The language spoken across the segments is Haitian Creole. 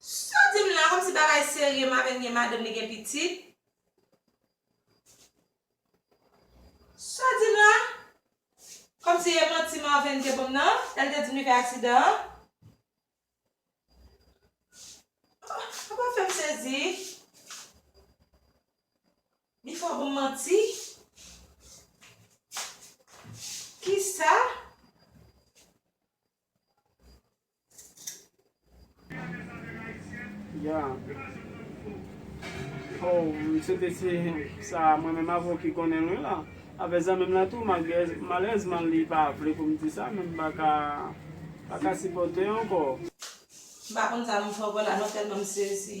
Saw dim la komsi bagay serye mabenn gen madanm li gen pitit Saw dim la Komsi e manti marven te banm nan lèl te dim li fè aksidan an Ou pa fèm sezi Li fè w banm manti Kisa. Ya. Oh, msye te si sa mwen menm avè w ki konnen wi la. Avè zanmi m la tou, malerezman li pa vle pou m di sa men m pa ka pa ka sipòte ankò. M pa konn sa m fè ankò la non tèlman m sezi.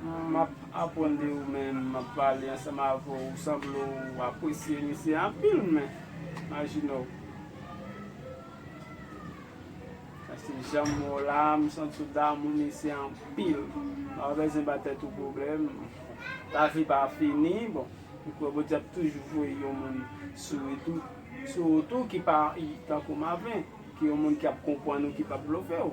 M ap aprann de ou men m ap pale ansanm avè w. Ou sanble w apresye misye anpil men majinè w. Paske jan m wè w la a m santi w damou misye anpil. Ou pa bezwen ba tèt ou pwoblèm. Lavi pa fini bon. M kwè Bondye ap toujou voye yon moun sou ou tou ki pa tankou Marvin. Ki yon moun ki ap konprann ou ki p ap blofe w.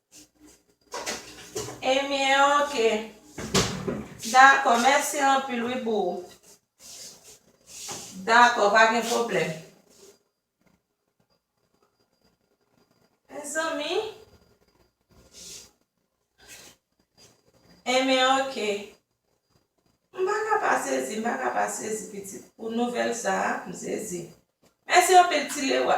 Ebyen ok Dakò mèsi anpil wi pou Dakò pa gen pwoblèm Mezanmi Ebyen ok M pa ka pa sezi m pa ka pa sezi pitit pou nouvèl sa a m sezi Mèsi anpil ti Lewa.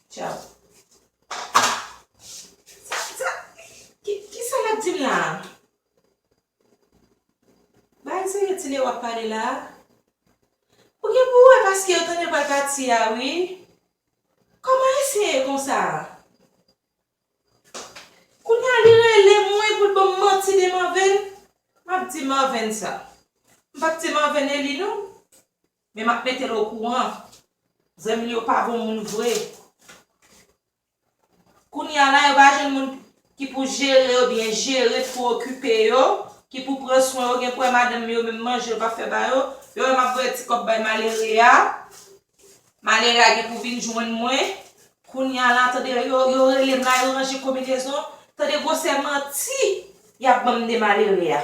Tchau. Sa sa kisa lap dim la. Bagay serye tine wap pale la. Ou gen pou wè paske yo tande pral pati a wi. Koman ayisyen ye konsa. Kounya li rele m wi poul banm manti de marven. Map di marven sa. M pap di marven eli non. Men map metel okouran. Zanmil yo pa bon moun vre. Kounya la yo pa jwenn moun ki pou jere yo byen jere ki pou okipe yo ki pou pran swen yo gen pou wè madanm yo menm manje yo pap fè ba yo yo wè map voye ti kòb bay malere a malere a gen pou vin jwenn mwen kounya la tande yo relem la yo ranje konbinezon tande gwosè manti yap banm de malere a.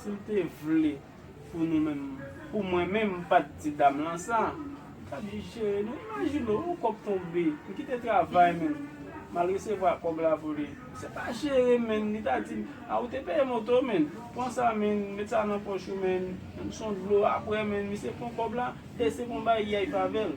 Si l te vle pou nou menm, pou mwen menm m pa t di dam lan sa, m ta jis jere nou. Imajine w, yon kòb tonbe, m kite travay mwen, m al resevwa kòb la pou li. Se pa jere menn, li ta di m, a ou te peye moto menn, pran sa menn, met sa nan pòch ou menn, m son dlo aprè menn, misye pran kòb la e se konbayiyay pa avè l.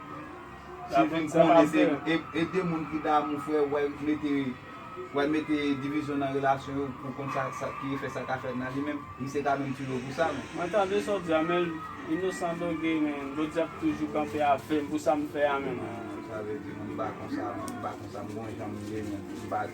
Ti vin konnen se e de moun ki damou fre wè mete wè mete divizyon nan relasyon yo pou konn sa ki efè sa ka fè nan li menm misye ka menm tire w pou sa menm. Mwen tande sa w di a men inosan doge men bondye ap toujou kanpe avm pou sam fè a menm. Sa vle di mwen m pa konsa menm m pa konsa m gon janm ye menm m pa.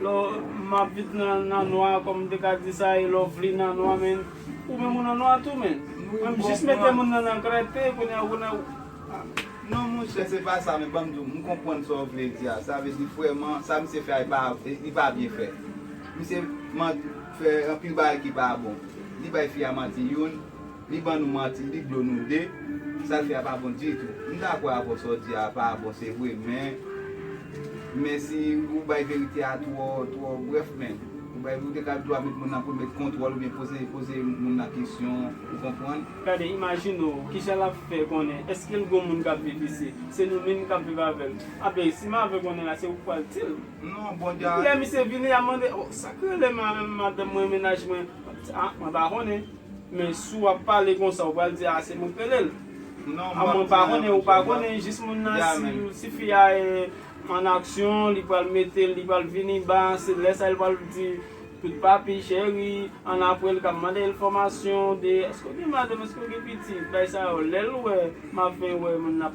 Lò m ap vit nan nwa kòm m te ka di sa e lò vle nan nwa menn ou menm ou nan nwa tou menn menm jis mete moun nan nan klète kounye a ou nan non monchè se pa sa men ban m di w m konprann sa w vle di a sa vle di vrèman sa misye fè a li pa byen fèt misye fè anpil bagay ki pa bon li bay fi a manti youn Li ban nou manti li blo nou 2 sal fè a pa bon ditou m dakò avèw sa w di a pa bon se vre men men si ou bay verite a twò twò brèf men ou bay ou te ka dwa met moun nan premye t kontwòl oubyen poze poze moun nan kesyon ou konprann. Gade imajine w kijan lap fè konnen eske l gon moun kap viv isi se nou minm kap viv avèl abe si mave konnen la se ou k pral dil Non bon dja. Lè misye vini yap mande oh sak rele madanm mwen mennaj mwen ah mwen pa konnen. Men si w ap pale konsa ou pral di a se mwen k rele l. A mwen pa konnen ou pa konnen jis moun nan si fi a an aksyon li pral mete l li pral vini ba se lè sa l pral di tout papi cheri an apre l ka mande enfòmasyon de èske w gen madanm èske w gen pitit bay sa yo lè l wè m ap fen wè moun nan ap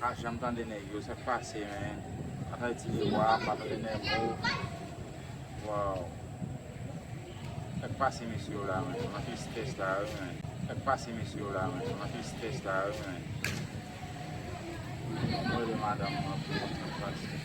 Pa janm tande nèg yo sak pase men batay ti miwa pa tande nèmo waw sak pase mesye yo la men nan ki sitès la wi men sak pase mesye yo la men nan ki sitès la wi men fòk mwen rele madanm mwen pou wè sak pase.